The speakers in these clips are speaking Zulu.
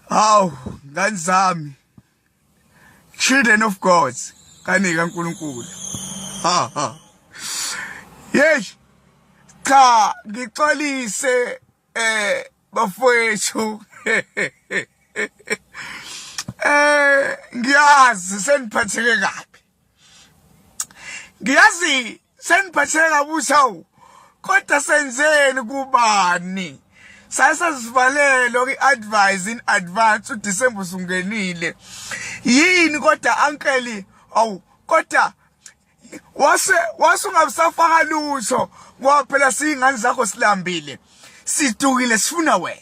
Haw, ngani zami. Children of God, kani kaNkuluNkulu. Ha ha. Yes. Cha, ngixolise eh bafowethu. Eh ngiyazi seniphatheke kabi. Ngiyazi seniphatheke kabusi hawu kodwa senzeni kubani sasazivalelo kwi-advise in advance udisemba usungenile yini kodwa ankeli awu kodwa wase wase ungabusafaka lutho ngoba phela siyingane zakho silambile sidukile sifuna wena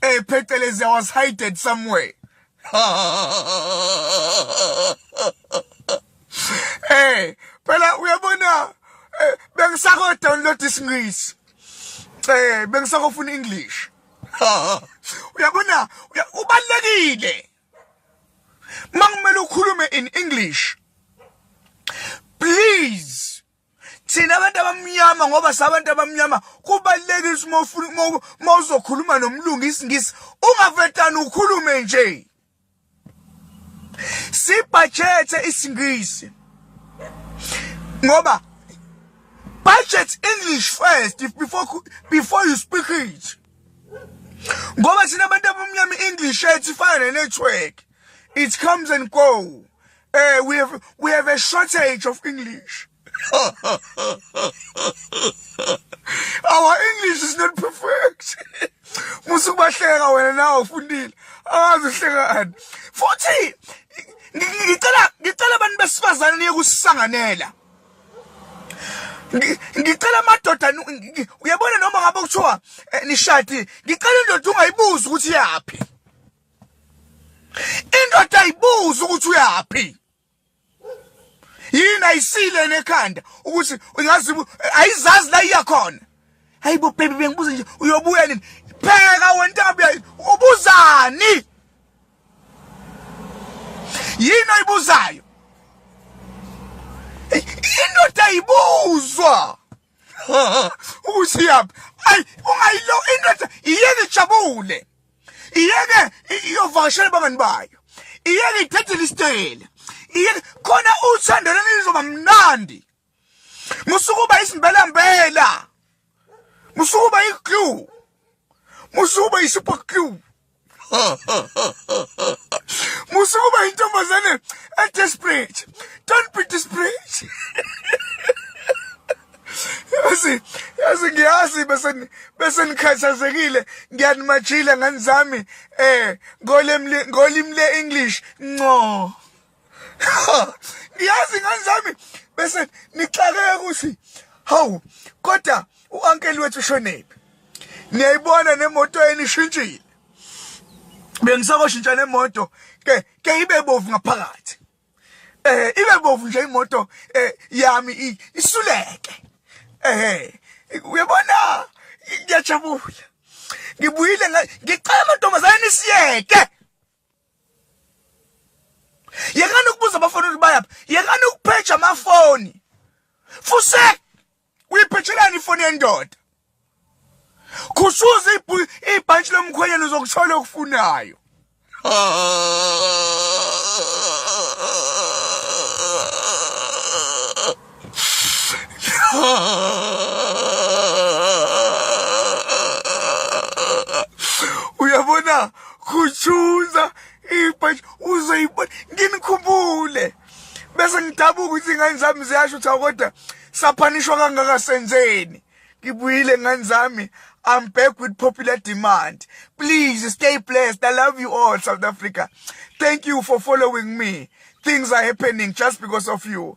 Hey, Phecelezi, I was hidden somewhere. hey, phela uyabona eh, bengisako download isingisi. Eh, bengisako funa English. Uyabona, ubalekile. Mangimele ukhulume in English. Please thina abantu abamnyama ngoba sabantu abamnyama kubalulekile ukuthi uma uzokhuluma nomlungu isingisi ungavetani ukhulume nje sibhajethe isingisi ngoba budget english first if before before you speak it ngoba thina abantu abamnyama i-english yethu ifana ne-network It comes and go. Uh, we have we have a shortage of English. Our English is not perfect. Musu bahleka wena nawe ufundile. Awazi uhlekani. Futhi ngicela ngicela abantu besifazane niye kusisanganela. ngicela amadoda uyabona noma ngabe kuthiwa eh, nishadi ngicela indoda ungayibuzi ukuthi yaphi indoda ayibuza ukuthi uyaphi yini ayisile nekhanda ukuthi ingazi ayizazi la iya khona hayibo baby bengibuza nje uyobuya nini pheka wentambo yayo ubuzani yini oyibuzayo indoda ayibuzwa ukusiyaphi ayi ungayilo indoda iyeke ijabule iyeke iyovakashela abangani bayo iyeke ithathele isitele iyeke khona uthando leli lizoba mnandi musukuba isimbelambela musukuba i-glue musukuba i-super glue musukuba intombazane edesperate don't be desperate yazi yazi ngiyazi bese bese nikhathazekile ngiyanimajile ngani zami eh ngolimi le English no ngiyazi ngane zami bese nixakeke ukuthi hawu kodwa u-ankeli wethu ushonephi niyayibona nemoto enishintshile bengisakoshintsha nemoto ke ke ibe bovu ngaphakathi eh ibe bovu nje imoto eh yami isuleke eh uyabona ngiyajabula ngibuyile ngicela amantombazane nisiyeke yekani ukubuza abafana ukuthi bayaphi yekani ukuphetsha amafoni fusek uyiphetshelani ifoni yendoda khushuza ibhantshi lomkhwenyana uzokuthola okufunayo uyabona khutshuza ibhashi uzoyibona nginikhumbule bese ngidabuka ukuthi ingane zami ziyasho ukuthi kodwa saphanishwa kangaka senzeni ngibuyile ngane zami I'm back with popular demand. Please stay blessed. I love you all, South Africa. Thank you for following me. Things are happening just because of you.